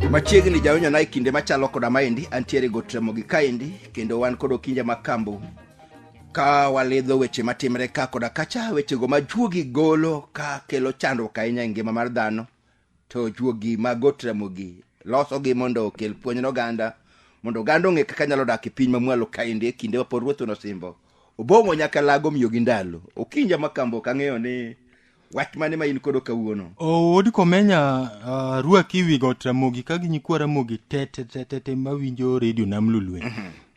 machiegni jawinjo na e kinde machalo koda maendi antiere gotramogi kaendi kendo wan kod okinja ma kambo ka walidho weche matimre ka koda kacha wechego ma juogi golo ka kelo chandruok ahinya e ngima mar dhano to juogi mag got ramogi losogi mondo okel puonj ne oganda mondo oganda ong'e kaka nyalo dak e piny mamwalo kaendi e kinde mapod ruoth nosimbo obong'o nyaka lago miyo gi ndalo okinja makambo ok ang'eyo ni wach mane ma in kodo kawuono owod komenya uh, rwaki wi got ramogi ka gi nyikwa ramogi tetetetete mawinjo redio nam lulwe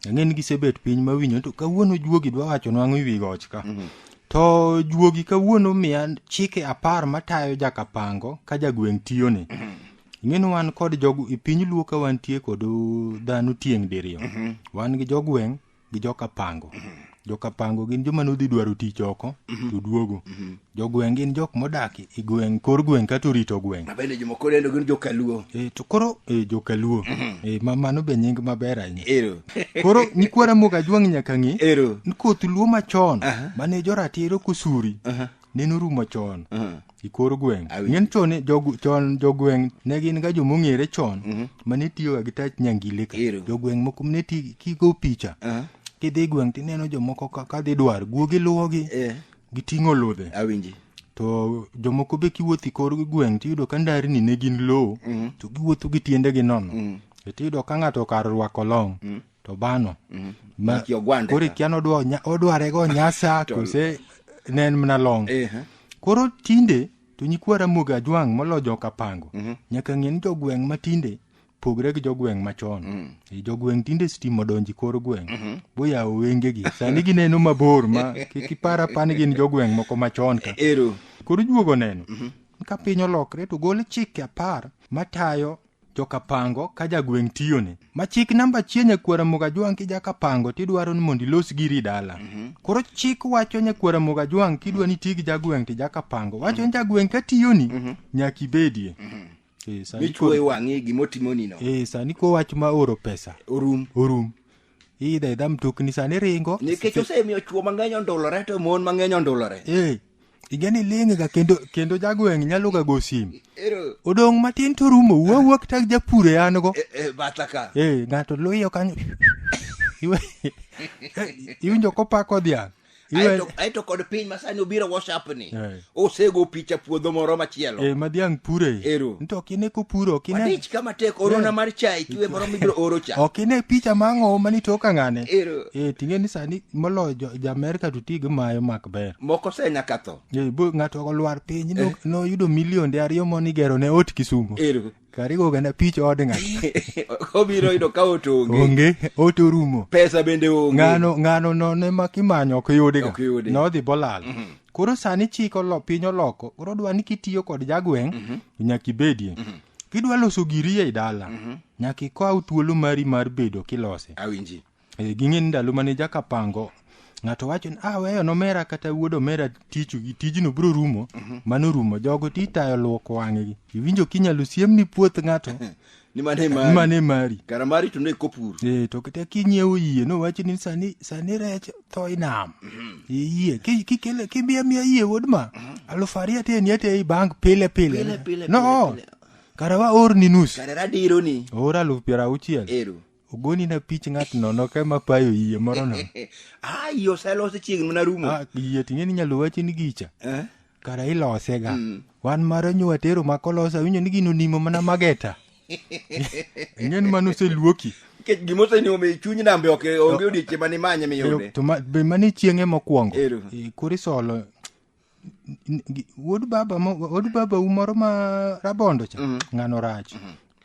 ang'e ni gisebet piny ma winyo to kawuono juogi dwa wacho nwang'o iwi goch ka mm -hmm. to juogi kawuono miya chike apar matayo jakapango ka jagweng' tiyoni mm -hmm. ing'eni wan kod jog e piny luo ka wantie kod dhano tieng' diriyo mm -hmm. wan gi jogweng' gi jokapango mm -hmm. Jokapango gin joma nodhi dwaro tich oko mhm. to duogo. Mhm. Jogweng' gin jok modak e gweng' kor gweng' kata orito gweng'. Mabende joma koro endo gin jokaluo. E, to koro e, jokaluo. Mhm. E, ma mano be nying maber ahinya. Ero. koro nyikwara moga jwang' nyaka ng'e. Ero. Koth luo machon uh -huh. mane joratiro kusuri. Uh -huh. ne norumo chon Mhm. i kor gweng Awi. ng'en chon ni jog- chon jogweng ne gin ga jomong'ere chon Mhm. ma ne tiyoga gi tach nyangile ka Ero. jogweng moko ne ti kigo picha Aha. kidhi gweng tineno jomoko ka- ka dhi dwar guogi luwogi Eh, giting'o ludhe awinji to jomoko be kiwuotho i kor gweng tiyudo ka ndarni ne gin lowo Mhm. to giwuotho gi tiendegi nono Mhm. to tiyudo ka ng'ato kar rwako long to bano mm. ma kore kian odwa odware go nyasa kose ne en mna long eh, eh. koro tinde to nyikwa ramogi ajwang' molo joka pango mm -hmm. nyaka ng'e ni jogweng' ma tinde pogre gi jogweng' machon mm. e jogweng' tinde stima odonji kor gweng' mm -hmm. boyawo wengegi sani gineno mabor ma kik ipar apani gin jogweng' moko machon ka e, koro juogo neno mm -hmm. ka piny olokre to gol chike apar matayo jokapango ka jagweng' tiyone ma chik namba achiel nyakwara mogajwang' ki jakapango tidwaro ni mondo ilos giri dala koro chik wacho nyakwara mogajwang' kidwa ni iti gi jagweng' ti jakapango wacho ni jagweng' ka tiyoni nyaka ibedie Eh, sani michuoe koro- wang'i gimotimonino eh, sani ko wach ma oro pesa orum orum iidha idha mtokni sani ringo nikech osemiyo chuo mang'eny ondulore to mon mang'eny ondulore eh, igeni ling' ga kendo kendo jagweng' nyalo ga go sim Ero, odong' matin to rumo wuo wuo kata gi japur e an go e, e, batha ka. eh ng'ato luyo kanyo Iwe- eh, iwinjo kopako dhiang' Iwe- Aeto, aeto kod piny masani obiro WhatsApp ni. Eh. Osego picha puodho moro machielo. eh, ma dhiang' pure Ero. nto ok ine kopuro ok ine Wadich kama tek orona Eh. mar chai kiwe moro mibiro oro cha. ok ine picha mang'owo mani toka ng'ane Ero. eh ting'e ni sani moloyo jo- ja-amerka to ti gi mayo mak ber moko se nyaka tho Ye, bo- ng'ato olwar piny no- noyudo milionde ariyo moni gero ne ot kisumo ero karigo gana pich od ng'ato obiro yudo ka ot onge onge ot orumo pesa bende onge ng'ano ng'ano none ma kimanyo ok yudiga Ok yudi. nodhi bolal koro sani chik olo piny oloko koro dwa ni kitiyo kod jagweng' nyaka ibedie kidwa loso giri ei dala nyaka ikaw thuolo mari mar bedo kilose awinji e, ging'e ni ndalo mane jaka pango ng'ato wacho ni ah weyo nomera kata wuod omera tichu gi tijno biro rumo mhm. mano rumo jogo ti tayo luoko wang'egi iwinjo kinyalo siem ni puoth ng'ato ni mane mari ni mane mari kara mari to ne kopur eh to kata kinyiewo yie no wacho ni sani sani rech tho inam mhm. e yie ki ki kele ki mia mia yie wuod ma mhm. alufu ariyo te ni te i bank pile pile no kara wa or ni nus kara radiro ni or alufu piero auchiel ero ogoni na pich ng'at nono ka ma payo yie moro no ah iyo oselose chiegni mana rumo Ah, yie ting'e ni nyalo wachi ni gicha Eh? kara ilose ga wan mara nyo watero ma kolose awinjo ni gino nimo mana mageta ing'e ni mano oseluoki nikech gima osenimo mi chuny nambe ok onge odiechieng' mane manye miyude to ma- be mane chieng'e mokwongo Ero. Eh, koro isolo N- gi- wuod baba mo- wuod baba u moro ma rabondo cha ng'ano rach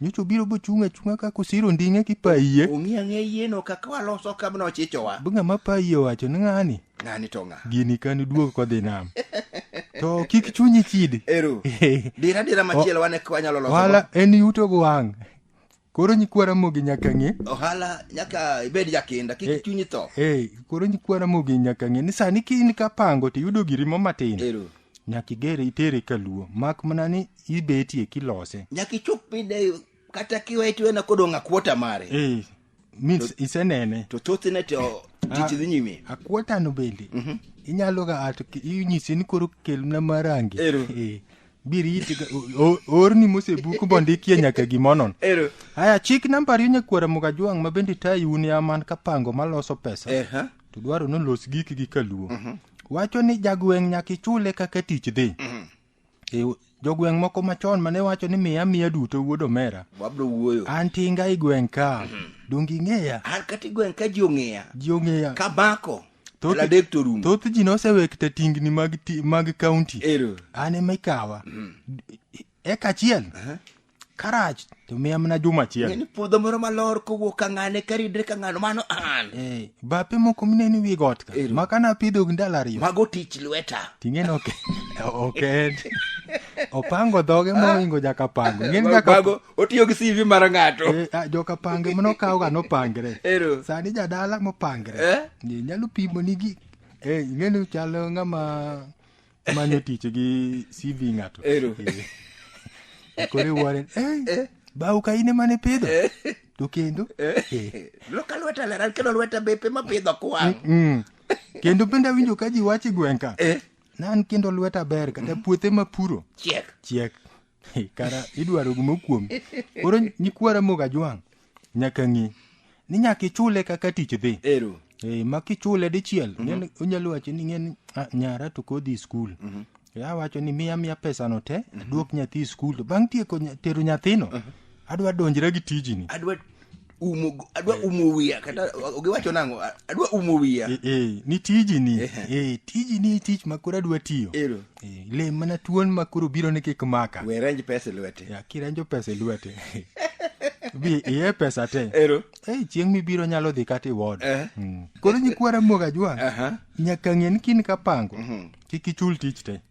nyocha obiro bochung' achung'a ka kosiro nding'e ki paiye ong'i ang'e yieno kaka waloso kabno ochichowa bu ng'ama paiye owacho ni ng'ani ng'ani to ng'a gini kani duog kodhi nam to kik chunyi chidi ero dira dira machielo wane ka wanyalo loso wala en yuto go wang' koro nyikwa ramogi nyaka ng'e ohala nyaka ibed jakinda Eh. kik chunyi tho hey, koro nyikwa ramogi nyaka ng'e ni sani ka in kapango to iyudo girimo matin ero nyaka igere itere kaluo mak mana ni ibetie kilose nyaka ichop pide kata kiwe tiwena kodong' akwota mare hey, means isenene to thothne to tich dhi nyime akwotano bende inyalo ga ato ki- inyisi ni koro kelna marangi Ero. Eh, birit orni mosebuk bondikie nyaka gimonon ero haya chik namba ariyo nyakwara mugajwang' ma bende tayi un ya man ka pango maloso pesa eha to dwaro ni olos gikgi kaluo wacho ni jagweng' nyaka ichule kaka tich dhi E, jogweng' moko machon mane wacho ni miya miya duto wuod omera wabro wuoyo an tinga i gweng' ka donge ing'eya an kata igweng' ka ji ong'eya ji ong'eya kamako Thoth- aladek to orumo thoth ji nosewekta tingni mag, ti- mag kaunti ero an ema ikawa eka achiel karach to miya mana juma achiel ng'eni puodho moro malor kowuok ka ng'ane karidre ka ng'ano mano an Eh, bape moko mineno wi got ka Ero. ma kane apidho gi ndalo ariyo mago tich lweta ting'eno ok ok en opango dhoge moingo nyaka pango Ing'eni nyaka- Mago- otiyo gi CV mar ng'ato Eh, ah, joka pange mano kawoga nopangre Ero. sani jadala mopangre Eh? Ni nyalo pimo nigi eh, ing'eni chalo ng'ama manyo tich gi cv ng'ato Ero. Eh. kore waren eh, bau ka ine mane pidho to kendo eh, loka lweta leran kendo lweta bepe mapidho kwang' mm. kendo bende awinjo ka ji wache gweng'ka Eh. nan kendo lweta ber kata puothe mapuro chiek chiek He, kara idwaro gimo kuom koro nyikwara moga jwang' nyaka ng'e ni nyaka ichule kaka tich dhi ero Eh, ma kichule dichiel ng'en- onyalo wacho ni ng'en "Ah, nyara to kodhi skul ya wacho ni miya miya pesano te aduok nyathi skul to bang' tieko nya- tero nyathino adwa donjra gi tijini adwa umo adwa eh. umo wiya kata giwacho nango adwa umo wiya eh, eh, ni tiji ni eh, tiji ni tich ma koro adwa tiyo ero eh, le mana tuon ma koro biro ni kik maka we ranj pesa e lwete ya kiranjo pesa e lwete bi iye pesa te ero eh, chieng mibiro nyalo dhi kata iwod eh. mm. koro nyikwara moga jwa uh -huh. nyaka ng'e ni kin kapango uh mhm. -huh. kik ichul tich te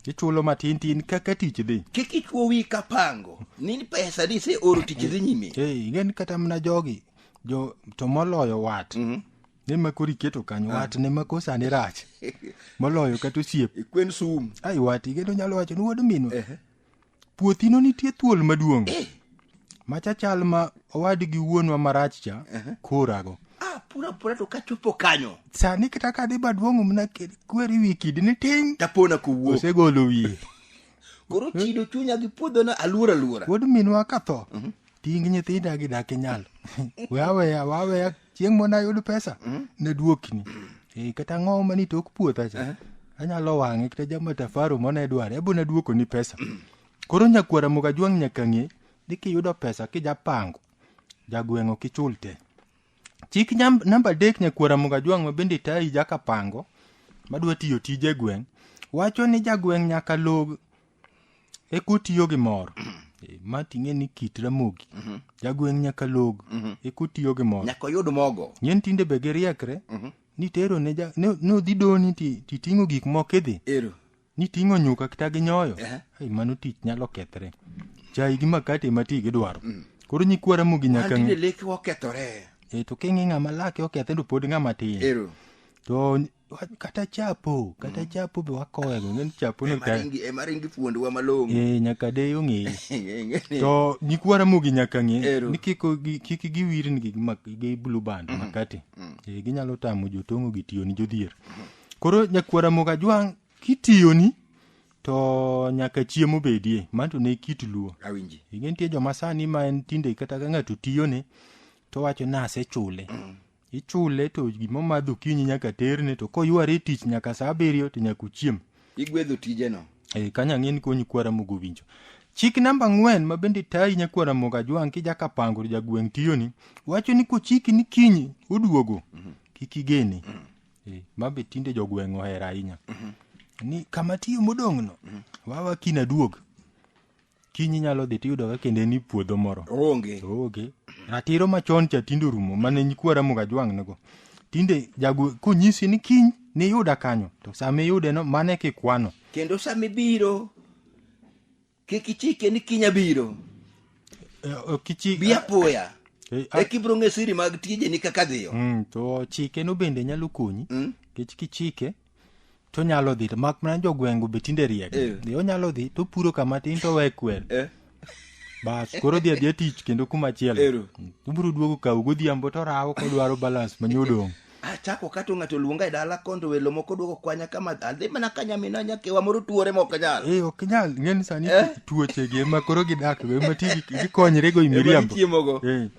ichulo matin tin kaka tich dhi kik ichwo wi ka pango ni pesa ni se oro tich dhi nyime Hey, ing'e ni kata mana jogi jo to moloyo wat ne ma koro iketo kanyo wat ne ma koro sani rach moloyo kata osiep kwen sum ai wat igeno nyalo wacho ni wuod minwa puothino nitie thuol maduong' machachal ma owadgi wuonwa marach cha kurago Ah, pura pura to kachopo kanyo. sani kata ka dhi baduong'o mna kweri wi kidi ni ting' Tapona kowuok. osegolo wiye Koro chido chunya gi puodho na aluora aluora. wuod minwa ka tho ting' nyithinda gidak inyalo we aweya waweya chieng' mona yud pesa naduokni Eh, kata ang'owo mani tok puotha cha anyalo wang'e kata jama tafaro mona idware ebo naduokoni pesa koro nyakwara moga jwang' nyaka ng'e ni kiyudo pesa kijapango jagweng'o kichul te chik nyam- namba adek nyakwara moga jwang' ma bende tayi jakapango madwa tiyo tije gweng' wacho ni jagweng' nyaka log e kotiyo gi mor Eh, ma ting'e ni kit ramogi jagweng' nyaka log e kotiyo gi mor nyaka oyud mogo nyen tinde be giriekre nitero ne ja- ne- nodhi doni ti- titing'o gik moko idhi ero niting'o nyuka kata gi nyoyo Ehe. Ai, mano tich nyalo kethre chai gi makate ma ti gidwaro koro nyikwa ramogi nyaka An tinde ng'e leke okethore e to king'e ng'ama lake okethe to pod ng'ama tin ero to Wa- kata chapo kata chapo be wakowego ng'eni chapo no ka Emaringi- emaringi fuondwa malong'o e nyaka de ong'eyo Ng'eni- to nyikwa ramogi nyaka ng'e Ero. ni kik gi- kik giwirni gi mak- gi blue band makati Eh, ginyalo tamo jotong'o gi tiyoni jodhier koro nyakwa ramoga jwang' kitiyoni to nyaka chiemo bedie manto ne kit luo awinji ing'e nitie joma sani ma en tinde kata ka ng'ato tiyone to wacho ni asechule ichule to gima omadho okinyi nyaka terne to koyware e tich nyaka saa abiriyo to nyaka uchiem igwedho tijeno e, kanya ng'e ni konyi kwara mogo winjo chik namba ang'wen ma bende tayi nyakwara mogo ajwang' kijakapango to jagweng' tiyoni wacho ni kochiki ni kinyi oduogo kik igene e, ma be tinde jogweng' ohero ahinya ni kama tiyo modong'no wawa kinaduog kiny inyalo dhi tiyudo ka kendo en puodho moro onge onge ratiro machon cha tinde orumo mane nyikwa Ramogi Ajwang' nigo tinde jago konyisi ni kiny niyuda kanyo to sama iyude no mane kikwano kendo sama ibiro kik ichike ni kiny abiro e, kichi bi apoya e, e kibro ng'e siri mag tijeni kaka dhiyo mm, to chike no bende nyalo konyi mm. kech kichike to nyalo dhi to mak mana jogwengo be tinde riek Eh. Dhi, onyalo dhi to puro kama tin to we kwer Eh. bas koro dhi adhiya tich kendo kuma chielo Ero. ubiro duogo kaw godhiambo to rawo kodwaro balance manyodong achako kato ng'ato luonga e dala kondo welo moko duogo kwanya kama adhi mana ka nyamina nyakewa moro tuore ma ok nyal Eh, ok nyal ng'eni sani tuochegi ema koro gidak go ema ti gi- gikonyre go i Ema miriambo gichiemogo. Eh,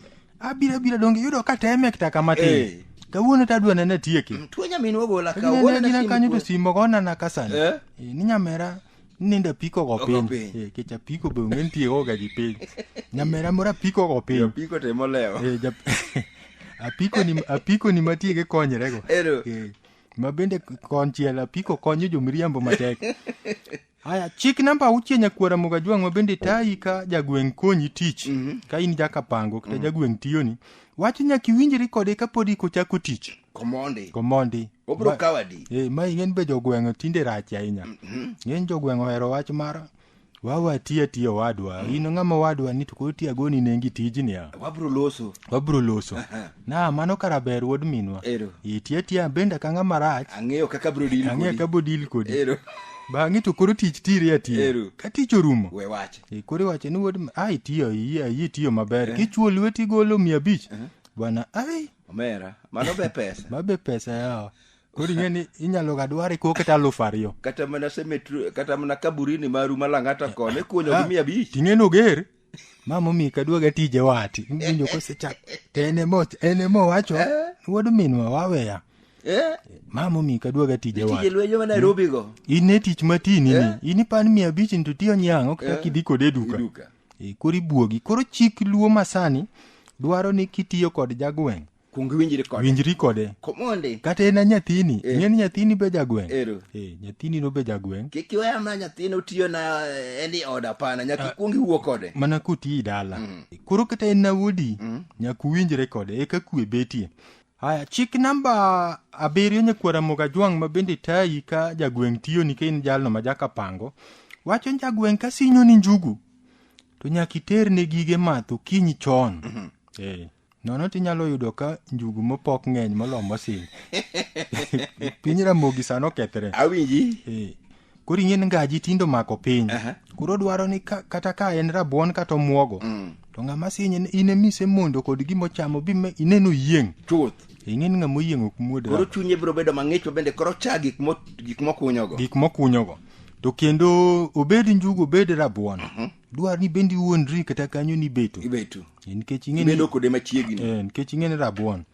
abira bira donge yudo ka teme kata kama tin Eh. kawuono to adwa nene tieke tuo nyaminwa ogola ka Gina wuon na gina simu kanyo to kuwe. simo gona na kasani Eh? Eh, ni nyamera nindo apiko go Ogo piny piny. Eh, kech apiko be onge nitie goga gi piny nyamera moro apiko go piny Apiko to ema olewo. Eh, jap- apiko ni apiko ni matie gi konyrego Ero. Eh, ma bende konchiel apiko konyo jomiriambo matek Haya, chik namba auchiel nyakwara Mugajwang' ma bende tayi ka jagweng' konyi tich ka in jakapango kata jagweng' tiyoni wacho nyaka iwinjri kode kapod iko chako tich komondi komondi obro Ma- kawadi Eh, ma ing'en be jogweng' tinde rach ahinya ng'eny jogweng' ohero wach mar wawa tiya tiya owadwa in ng'ama owadwa ni to koro tiya goni nengi tijni a wabro loso wabro loso na mano kara ber wuod minwa Ero. iti atiya abenda ka ng'a marach Ang'eyo kaka bro deal ang'e kodi. ka bodil kodi Ero. bang'e to koro tich tiri atiya Ero. ka tich orumo We wache. e koro iwacho ni wuod mi- a itiyo iyi iyi itiyo maber kichuo lweti golo mia abich bwana ai Omera. Mano be pesa. mabe pesa yawa koro ing'e ni inyalo ga dware ko kata alufu ariyo Kata mana cemetery, kata mana kaburini maru malang'ata kone kunyo gi mia abich. ting'e noger mama omi kaduoga tije wati winjo kosechak to en emo en emo wacho wuod minwa waweya Eh, mama omi kaduoga tije tije wati lwenyo ma Nairobi go. in e tich matini ni Eh. in ipan mia abich ni to tiyo nyang' ok chak Eh. idhi kode e duka Iduka. Eh, koro ibuogi koro chik luo masani dwaro ni kitiyo kod jagweng' kuong iwinjri kode winjri kode komondi kata en nyathini Eh. ing'e ni nyathini be jagweng' Ero. Eh, nyathini no be jagweng' kik iweya na nyathini otiyo na eh, ni oda hapana nyaka ikuong iwuo kode mana kotii dala koro kata en nawodi nyaka uwinjre kode eka kwe betie haya chik namba abiriyo nyakwara moga jwang' ma bende tayi ka jagweng' tiyoni ka in jalno ma jakapango wacho ni jagweng' ka sinyoni njugu to nyaka iterne gige math okinyi chon Eh, nono to inyalo yudo ka njugu mopok ng'eny molo mosil piny ramogi sano okethre awinji Eh, koro ing'eni ngaji tindo mako piny Aha. koro dwaro ni ka, kata ka en rabuon kata omwogo Mm. to ng'ama sinye ni in emise mondo kod gima ochamo bi me- ineno yieng' chuth ing'eni ng'ama oyieng' ok muod koro chunye biro bedo mang'ich bende koro cha gik mo- gik mokunyogo gik mokunyogo to kendo obed njugu obed rabuon dwaro ni bende iwuondri kata kanyo ni ibeto ibetu nikech ing'e ni- ibedo kode machiegni Eh, nikech ing'e ni rabuon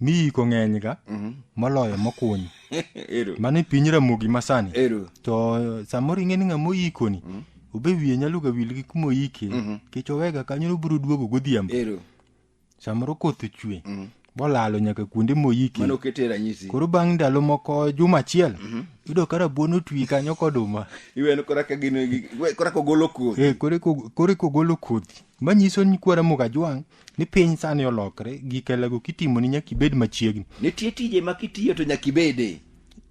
miyiko ng'eny ga moloyo mokuny ero mano e piny ramogi masani ero to eh, samoro ing'e ni ng'ama oyikoni obe wiye nyalo ga wil gi kuma oyike nikech owega kanyo nobiro duogo godhiambo ero samoro koth ochwe bolalo nyaka kuonde moyike mano kete ranyisi koro bang' ndalo moko juma achiel mhm. yudo ka rabuon otwi kanyo koduma iweno koraka gino koraka ogolo kodhi eh, koreka ogolo kodhi manyiso ni kwara mukajwang' ni piny sani olokre gikelago kitimo ni nyaka ibed machiegni nitie tije ma kitiyo to nyaka ibede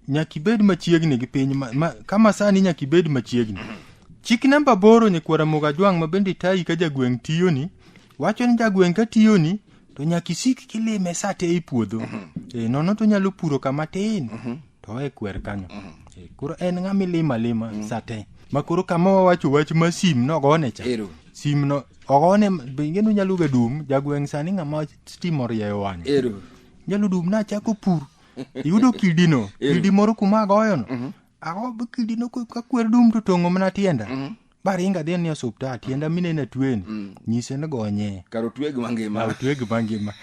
nyaka ibed machiegni gi piny ma, ma, kama sani nyaka ibed machiegni chik namba boro nyikwara mukajwang' ma bende tayi ka jagweng' tiyoni wacho ni jagweng' ka tiyoni to nyaka isik kilime sa te i puodho e, nono to nyalo puro kama tin to e kwer kanyo e, koro en ng'ama ilima lima sa te ma koro kama wawacho wach ma sim nogone cha Ero. sim no ogone benge no nyalo ga dum jagweng' sani ng'ama stima orieyo wang'e ero nyalo dum nachako pur iyudo kidino kidi moro kuma agoyono ago kidino ko- ka kwer dum to tong'o mana tienda baringa dhi ni osuptal tienda minene tweni mm. nyise ni gonye karo tweg mangima tweg mangima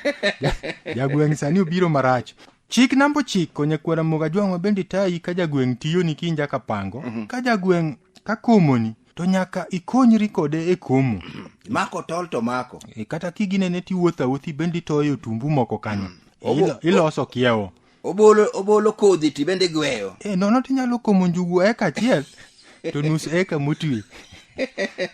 jagweng' sani obiro marach chik namba ochiko nyakwara moga jwang'wa bende tayi ka jagweng' tiyoni kinja ka pango mm-hmm. ka jagweng' ka komoni to nyaka ikonyri kode e komo mako tol to mako e, kata kiginene tiwuotho awuothi bende itoyo tumbu moko kanyo mm. iloso kiewo obolo obolo kodhi to ibende igweyo e nono to inyalo komo njugu eka achiel to nus eka motwi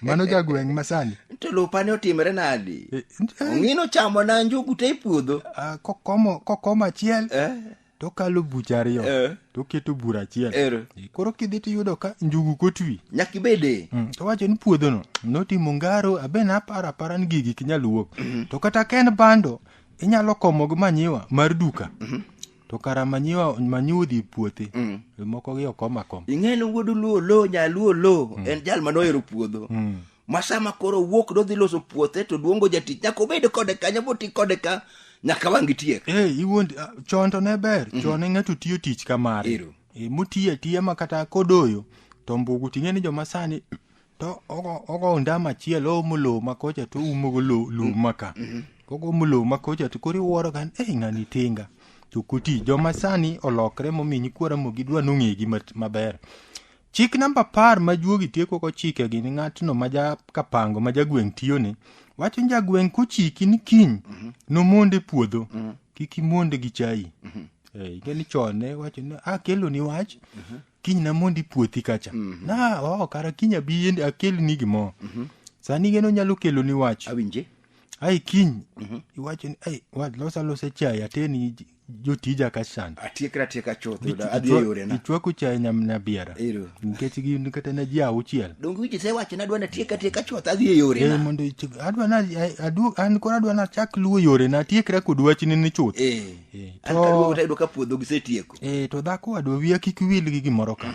mano jagweng' masani to lupane otimre nadi E, e, ong'ino chamo na njugu te e puodho ah, kokomo kokomo achiel Eh, to okalo bucha ariyo Eh. to oketo bura achiel Ero. E, koro kidhi to iyudo ka njugu kotwi nyaka ibede Mm, to wacho ni puodhono notimo ngaro abe naparo apara ni gigi kinyal wuok to kata ka en bando inyalo komo gi manyiwa mar duka mhm. to kara manyiwa manyiwa odhi puothe mm. moko gi okom akom ing'eni wuod luo lo nyaluo lo mm. en jal mane ohero puodho mm. ma sama koro wuok dodhi loso puothe to duongo jatich nyaka obed kode ka nyaka oti kode ka nyaka wang' gitiek hey, eh, iwuond ah, chon to ne ber mm -hmm. chon e ng'ato tiyo tich kamare e, eh, motiye tiye ma kata kodoyo to mbugu ting'e ni joma sani to ogo ndama achiel oumo lowo ma kocha to oumogo lum ma ka mm-hmm. ogomo lowo ma kocha to koro iwuoro ka ei ng'ani tinga to kuti joma sani olokre momi nyikwara mo gidwa nong'egi maber chik namba apar ma juogi tieko kochike gi ni ng'atno ma ja kapango ma jagweng' tiyone wacho ni jagweng' kochiki ni kiny mm-hmm. nomonde puodho mm-hmm. kik imonde gi chai ing'e ni chon ne wacho ni akelo ah, ni wach kiny namondi puothi kacha na oh, kara kiny abi yende akelni gimoro sani geno nyalo keloni wach awinje ai kiny iwacho ni ai wa losa losa chai ateni j- jotija ka sand atiekra atieka chuth yuda adhi e yorena ichwako chai nyamna biara Ero. nikech gin kata na ji auchiel donge wiji sewacho nadwa natieka atieka chuth adhi e Eh, yorena mondo ichik- adwa na eh, adu- an koro adwa nachak luwo yorena atiekra kod wachni ni chuth Eh. Eh, An to- kaduogo tayudo ka puodho gisetieko e to dhako wadwa wiya kik wil gi gimoro ka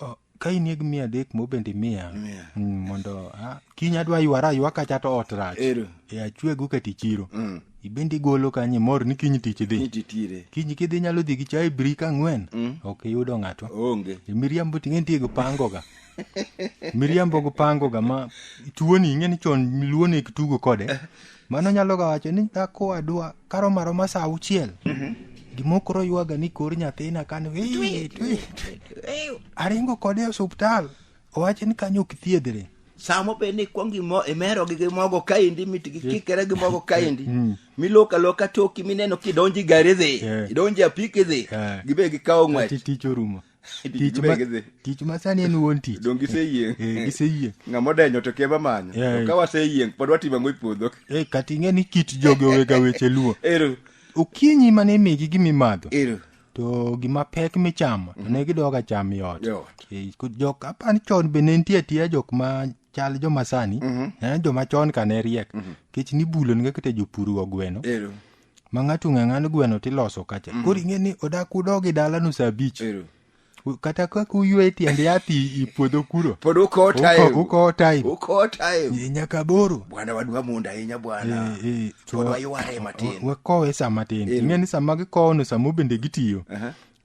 O, ka in yeg mia adek mo bende miya Miya. Mm, mondo ah, kiny adwa ywara aywa kacha to ot rach Ero. e achwegu ka tichiro Mm. ibende igolo kanye mor ni kiny tich dhi Nititire. kiny kidhi nyalo dhi gi chai brik ang'wen ok iyudo ng'ato Onge. E, miriambo ting'e nitie gipangoga miriambo gipangoga ma tuoni ing'e ni chon luo ne tugo kode mano nyalo ga wacho ni dhako wadwa karo maro ma sa auchiel Mhm. gimokoro ywaga ni kor nyathina kani "Ee, twi, twi." aringo kode e osuptal owacho ni kanyo ok thiedhre samo be ni kwong imo imero gi mogo kaindi mit gi kikere gi mogo kaindi miloka loka toki mineno kidonji gari dhi Yeah. idonji apiki dhi Yeah. gibe gikawo ng'wech Ati tich orumo tich ma- Gidhi. tich ma sani en wuon tich dong giseyieng Eh, giseyieng ng'ama odenyo to kema manyo Yeah. To ka waseyieng pod watimo ang'o e puodho Eh, kata ing'e ni kit jogi owega weche luo ero okinyi mane imigi gimimadho ero to gima pek michamo to ne gidoga cham yot Yot. Eh, ko jok apani chon be ne nitie atiya jok ma chal joma sani eh, joma chon ka ne riek kech nibulo nega kata jopur go gweno ero ma ng'ato ng'a ng'ano gweno tiloso kacha mm. koro ing'e ni odak udog e dalano sa abich kata kaka uywe e tiend yath i puodho kuro pod ukowo time ukowo time nyaka boro bwana wadwa mondo ahinya bwana eh, eh, pod wayware matin wakowe sa matin ing'e ni sama gikowono samo bende gitiyo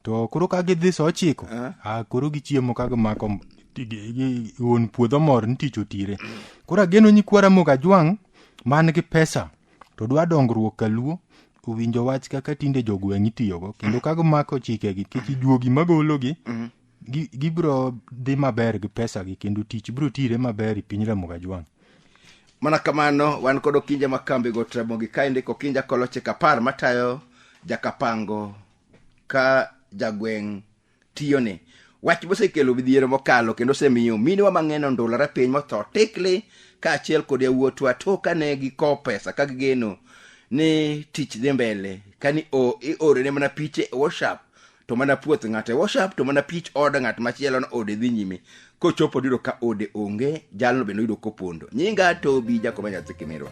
to koro ka gidhi sa ochiko ah, koro gichiemo ka gimako wuon puodho mor ni tich otire koro ageno nyikwara mok ajwang' man gi pesa to dwa dongruok kaluo owinjo wach kaka tinde jogweng' itiyogo kendo ka gimako chikegi kik juogi magologi gi- gibiro dhi maber gi pesagi kendo tich biro tire maber e piny ramoga jwang' mana kamano wan kod okinja ma kambi go tramogi ka indiko okinja koloche kapar matayo jakapango ka jagweng' tiyone wach mosekelo midhiero mokalo kendo osemiyo minewa mang'eny ondulore piny motho tikli kaachiel kod yawuotwa to kane gikowo pesa ka gigeno ni tich dhi mbele kani o- iorene mana piche e whatsapp to mana puoth ng'ato e whatsapp to mana pich od ng'at machielo no ode dhi nyime kochopo diro ka ode onge jalno bende oyudo kopondo nyinga tobi jakoba nyathi kimirwa